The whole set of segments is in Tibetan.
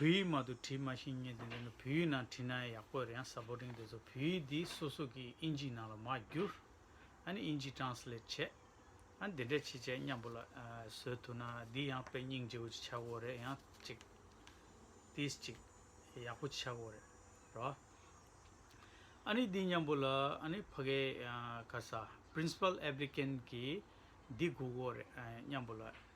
བོད་ཡིག་མ་དུ་བྲིས་མ་ཤེས་ངེས་དེ་འདི་ནི་བོད་ཡིག་ནང་བྲིས་ན་ཡག་པོ་རེད་ཡང་ས་པོ་རིང་དེ་ཚོ་བོད་ཡིག་འདི་སོ་སོ་གིས་དབྱིན་ཇིའི་ནང་ལ་མ་བསྒྱུར། ཨ་ནི་དབྱིན་ཇིའི Translate བྱེད། ཨ་ནི་དེ་འདྲས་བྱེད་བྱས་སྙམ་པོ་ལ། བཟོས་ཐུབ་ན་འདི་ཡང་དཔེ་རྙིང་བརྗེ་བོ་ཅིག་ཆགས་དགོས་རེད་ཡང་ཅིག། ཏིས་ཅིག། ཡག་པོ་ཅིག་ཆགས་དགོས་རེད། རོ། ཨ་ནི་འདི་སྙམ་པོ་ལ་ཨ་ནི་ཕ་གའི་ག་ས Principal Applicant གིས་འདི་སྒུག་དགོས་རེད་སྙམ་པོ་ལ།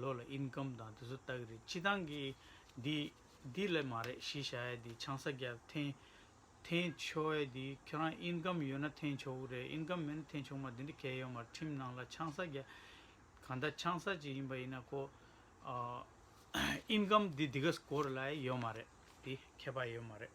ལོ་ལ Income དང་དེ་ཚོ་ལྟ་གི་རེད་སྤྱི་བཏང་གི་འདི་འདི་ལས་མ་རེད་གཞི་བཞག་ཡས་འདི་ཆང་ས་རྒྱབ་འཐེན་འཐེན་ཆོག་ཡས་འདི་ཁྱོད་རང Income ཡོད་ན་འཐེན་ཆོག་གི་རེད Income མེད་ན་འཐེན་ཆོག་མ་འདི་འདྲ་གས་ཡོད་མ་རེད་ཁྲིམས་ནང་ལ་ཆང་ས་རྒྱ་གང་ལྟར་ཆང་ས་ཅིག་ཡིན་པ་ཡིན་ན་ཁོ Income འདི་འདི་ག་སྐོར་ལ་ཡས་ཡོད་མ་རེད་འདི་ཁས་པ་ཡས་ཡོད་མ་རེད།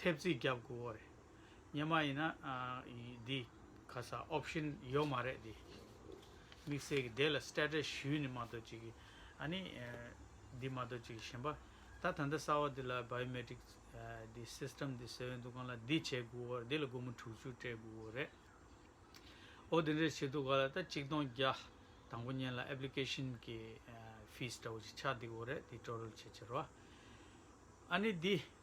ཐེབས་རྩིས་རྒྱབ་དགོས་འོ་རེད། ཉན་མ་ཡིན་ན། འདི། ག་ས option ཡོད་མ་རེད་འདི། དམིགས་བསལ་གྱི་དེ་ལ status ཞུས་ནི་མ་གཏོགས་ཅིག་གི། ཨ་ནི། འདི་མ་གཏོགས་ཅིག་གི་ཞེན་པ། ད་ད་འདི་གསར་བ་འདི་ལ biometric། འདི system འདི་ཟེར་བའི་འདུག་གང་ལ་འདི་བྱེད་དགོས་འོ་རེད་འདི་ལ་སྒོར་མོ་དྲུག་ཅུ་སྤྲད་དགོས་འོ་རེད། འོ་འདི་འདྲ་བྱེད་འདུག་ག་ལ་ད་གཅིག་སྟོང་བརྒྱ། དང་པོ་ཉན་ལ application གི། fees འདྲ་བོ་ཅིག་ཆགས་འདུག་འོ་རེད་འདི་སྤྲོ་རུ་བྱེད་ཕྱིར་རོ། ཨ་ནི་འདི།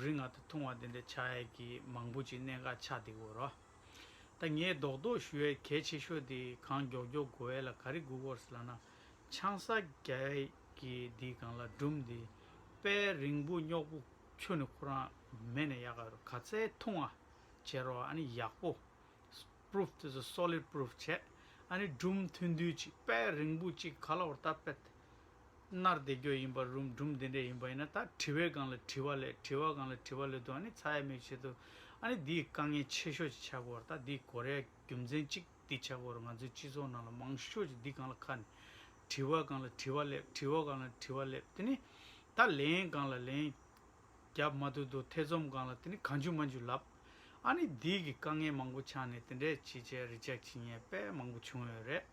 རིག་སྔགས་དེ་ཐུང་བ་དེ་འདྲའི་བྱ་ཡས་ཀྱིས་མང་པོ་ཅིག་གནད་འགག་ཆགས་འདི་གོ་རོ། ད་ངས་རྡོག་རྡོག་ཞུ་ཡས་གལ་ཆེ་ཤོས་དེ་གང་མགྱོགས་མགྱོགས་གོ་ཡས་ལ་ག་རེ་གུ་གོ་ལ་ན། ཆང་ས་རྒྱ་ཡས་ཀྱིས་འདི་གང་ལ་སྦྲུམ་འདི་དཔལ་རིང་པོ་རྙོག་པོ་ཁྱོད་ནི་ཁོ་རང་མེད་ནས་ཡག་ག་རོ་ག་ཚད་ཐུང་བ་བྱས་རོགས་ཨ་ནི་ཡག་པོ། Proof དེ་ཚོ Solid Proof བྱས་ཨ་ནི་སྦྲུམ་ཐུན་དུས་ཅིག་དཔལ་རིང་པོ་ཅིག་ག་ལ་བོར་ད་དཔལ། སྣར་བདེ་སྐྱོ་ཡིན་པར་རུང་སྦྲུམ་དེ་འདྲས་ཡིན་པ་ཡིན་ན་ད་དྲི་བའི་སྒང་ལ་དྲི་བ་ལས་དྲི་བ་སྒང་ལ་དྲི་བ་ལོས་དུ་ཨ་ནི་ཚ་ཡ་མེད་བྱེད་དུ་ཨ་ནི་འདིའི་དཀའ་ངལ་ཆེ་ཤོས་ཀྱི་ཆགས་སྒོར་ད་འདིའི་གོ་རེ་ཡ་རྒྱུ་མཚན་གཅིག་འདི་ཆགས་སྒོར་ང་ཚོའི་སྤྱི་ཚོགས་ནང་ལ་མང་ཤོས་ཀྱི་འདི་སྒང་ལ་ཁ་ནས་དྲི་བ་སྒང་ལ་དྲི་བ་ལས་དྲི་བ་སྒང་ལ་དྲི་བ་ལས་དེ་ནི་ད་ལན་སྒང་ལ་ལན་རྒྱབ་མ་ཐུབ་དུ་ཐེ་ཚོམ་སྒང་ལ་དེ་ནི་གང་འཇུག་མ་འཇུག་ལབ་ཨ་ནི་འདིའི་གི་དཀའ་ངལ་མང་པོ་ཆགས་ནས་དེ་འདྲས་བྱེད་བྱས་རེ་ཅག་བྱེད་ཉེས་པས་མང་པོ་བྱུང་ཡོད་རེད།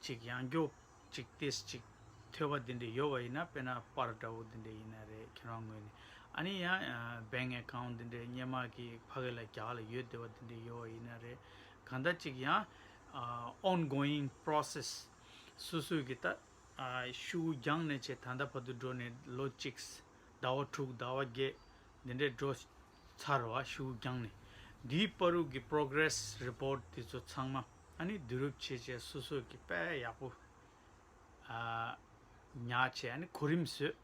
གཅིག་ཡང་རྒྱོབ། གཅིག་བལྟས་གཅིག། ཐོས་པ་འདི་འདྲའི་ཡོད་པ་ཡིན་ན་དཔེར་ན་པར་འདྲ་བོ་འདི་འདྲའི་ཡིན་ན་རེད་ཁྱེད་རང་ངོས་ནས་ཨ་ནི་ཡང་སྦས་ངན་གང་འདི་འདྲའི་སྙན་དམག་གི་ཕ་གི་ལ་རྒྱ་ལ་ཡོད་བསྡད་པ་འདི་འདྲའི་ཡོད་བ་ཡིན་ན་རེད་གང་ལྟར་གཅིག་ཡང on going process སུ་སུ་གི་ད་ཤུ་གུ་རྒྱང་ནས་བྱས་ད་ལྟ་བར་དུ་འགྲོ་ནས་ལོ་གཅིག་ཟླ་བ་དྲུག་ཟླ་བ་བརྒྱད་འདི་འདྲའི་འགྲོ་ཚར་བ་ཤིའུ་རྒྱང་ནས་འདིའི་དཔའ་རུག་གི Progress Report དེ་ཚོ་ཚང་མ་ཨ་ནི་བསྡུ་རུབ་བྱེད་བྱས་སོ་སོས་ཀྱི་དཔལ་ཡག་པོ་ཉག་བྱས་ཨ་ནི་གོ་རིམ་བཟོས་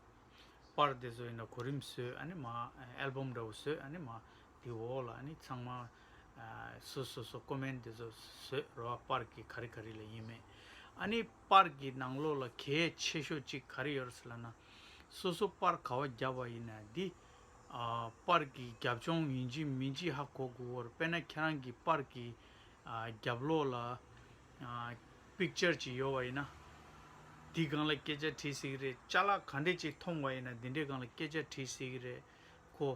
དཔར་དེ་ཚོ་ཡིན་ན་གོ་རིམ་བཟོས་ཨ་ནི་མ Album འདྲ་བོ་བཟོས་ཨ་ནི་མ་དེ་འོག་ལ་ཨ་ནི་ཚང་མ་སོ་སོ་སོ Comment དེ་ཚོ་བཟོས་རོ་དཔར་གྱི་ག་རི་ག་རི་ལ་ཡིན་མེད་ཨ་ནི་དཔར་གྱི་ནང་ལོགས་ལ་གལ་ཆེ་ཤོས་གཅིག་ག་རི་ཡོད་རེད་ཟེར་ལ་ན་སོ་སོ་དཔར་ག་བ་བརྒྱབ་བ་ཡིན་ན་དེ། པར་གྱི་རྒྱབ་ལྗོངས་ཡིན་གཅིག་མིན་གཅིག་ཧ་གོ་དགོས་བར་དཔེར་ན་ཁྱེད་རང་གི་པར་གྱི་རྒྱབ་ལོགས་ལ། Picture། ཅིག་ཡོད་བ་ཡིན་ན། འདིས་གང་ལ་སྐད་ཆ་དྲིས་ཟིག་རེད་བཅའ་ལག་ག་འདྲེ་ཅིག་མཐོང་བ་ཡིན་ན་འདི་འདྲས་གང་ལ་སྐད་ཆ་དྲིས་ཟིག་རེད་གོ།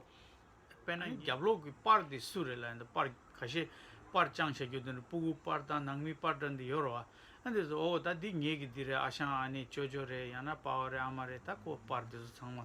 དཔེར་ན་རྒྱབ་ལོགས་ཀྱི་པར་དེ་སུ་རེད་ལ་ཡང་པར་ག་ཤེད་པར་བཅང་བྱ་རྒྱུ་དེ་ནི་སྤུ་གུ་པར་དང་ནང་མི་པར་འདྲ་འདི་ཡོད་ར་བ། ཨ་འདི་ཟེར་ཨོ་ད་འདི་ངེད་ཀྱི་འདི་རེད་ཨ་ཞང་ཨ་ནེ་ཅོ་ཅོ་རེད་ཡང་ན་པའོ་རེད་ཨ་མ་རེད་ད་ཁོ་པར་དེ་ཚོ་ཚང་མ་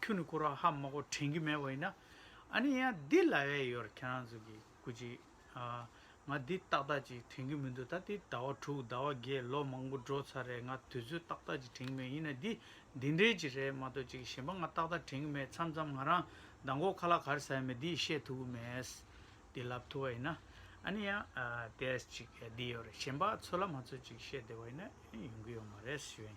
ཁྱོད་ནི་ཁོ་རང་ཧ་མ་གོ་དྲན་གི་མེད་བ་ཡིན་ན། ཨ་ནི་ཡ་འདི་ལ་ཡ་ཡོད་རེད་ཁྱེད་རང་ཚོ་གི་ཀུ་ཅི། ང་འདི་ཏག་ཏག་ཅིག་དྲན་གི་མི་འདུག་ད་འདི་ཟླ་བ་དྲུག་ཟླ་བ་བརྒྱད་ལོ་མང་པོ་འགྲོ་ཚར་རེད་ང་དུས་ཚོད་ཏག་ཏག་ཅིག་དྲན་གི་མེད་ཡིན་ན་འདི་འདི་འདྲའི་ཅིག་རེད་མ་གཏོགས་ཅིག་གཞན་པ་ང་ཏག་ཏག་དྲན་གི་མེད་མཚམས་མཚམས་ང་རང་ཟླ་མགོ་ཁ་ལག་གར་ཟ་ཡ་མེད་འདི་བཤད་ཐུབ་ཀི་མེད། འདི་ལབ་ཐུབ་བ་ཡིན་ན། ཨ་ནི་ཡ་དེ་ཅིག་འདི་ཡོད་རེད་གཞན་པ་ཚོ་ལ་མ་ཚོ་ཅིག་བཤད་བདེ་བ་ཡིན་ན་ཡོང་གི་ཡོད་མ་རེད་ཞུས།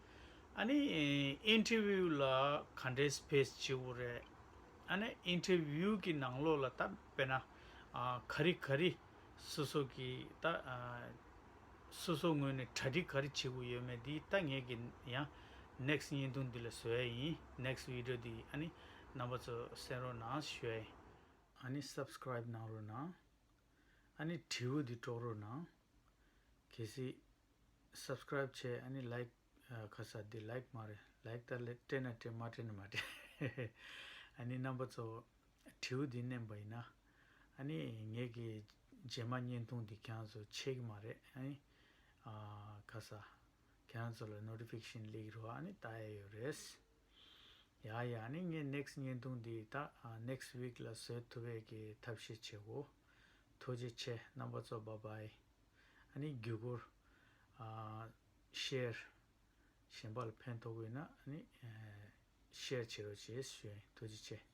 ཨ་ནི interview ལ་ག་འདྲའི space བྱེད་དགོས་རེད། ཨ་ནི interview གི་ནང་ལོགས་ལ་ད་དཔེར་ན་ག་རི་ག་རི་སོ་སོ་གི་ད་སོ་སོ་ངོས་ནས་གྲ་སྒྲིག་ག་རི་བྱེད་དགོས་ཡོད་མེད་འདི་ད་ངེད་ཀྱི་ཡང next བརྙན་ཐུང་འདི་ལ་བཟོ་ཡ་ཡིན next video འདི་ཨ་ནི་རྣམ་པ་ཚོ་གསན་རོགས་གནང་ཞོའི། ཨ་ནི subscribe གནང་རོགས་གནང། ཨ་ནི་དྲི་བོ་འདི་སྒྲོག་རོགས་གནང། གལ་སྲིད། Subscribe། བྱས་ཨ་ནི Like། ཁ་ས་འདི Like མ་རེད Like ལྟར་ལེ་སྤྲད་ན་སྤྲད་མ་སྤྲད་ན་མ་སྤྲད། ཨ་ནི་རྣམ་པ་གཙོ་བོ་དྲིའུ་འདི་མནན་པ་ཡིན་ན། ཨ་ནི་ངེད་ཀྱི་རྗེས་མ་བརྙན་ཐུང་འདི་ཁྱེད་རང་ཚོ་ཆས་ཀྱི་མ་རེད་ཨ་ནི། ཁ་ས། ཁྱེད་རང་ཚོ་ལ Notification ལེགས་རོགས་ཨ་ནི་བལྟ་ཡས་ཡོད་རེད། ཡ་ཡ་ནི་ངས next བརྙན་ཐུང་འདི་དག next week ལ་བཟོས་ཐུབ་བས་ཀྱི་ཐབས་ཤེས་བྱའོ། ཐུགས་རྗེ་ཆེ་རྣམ་པ་གཙོ་བ bye ཨ་ནི་བརྒྱུད་སྐུར། Share། གཞན་པ་ལ་ཕན་ཐོགས་དགོས་ན་ནི Share བྱེད་རོགས་བྱེད་ཞུ་ཡིན་ཐུགས་རྗེ་ཆེ bye།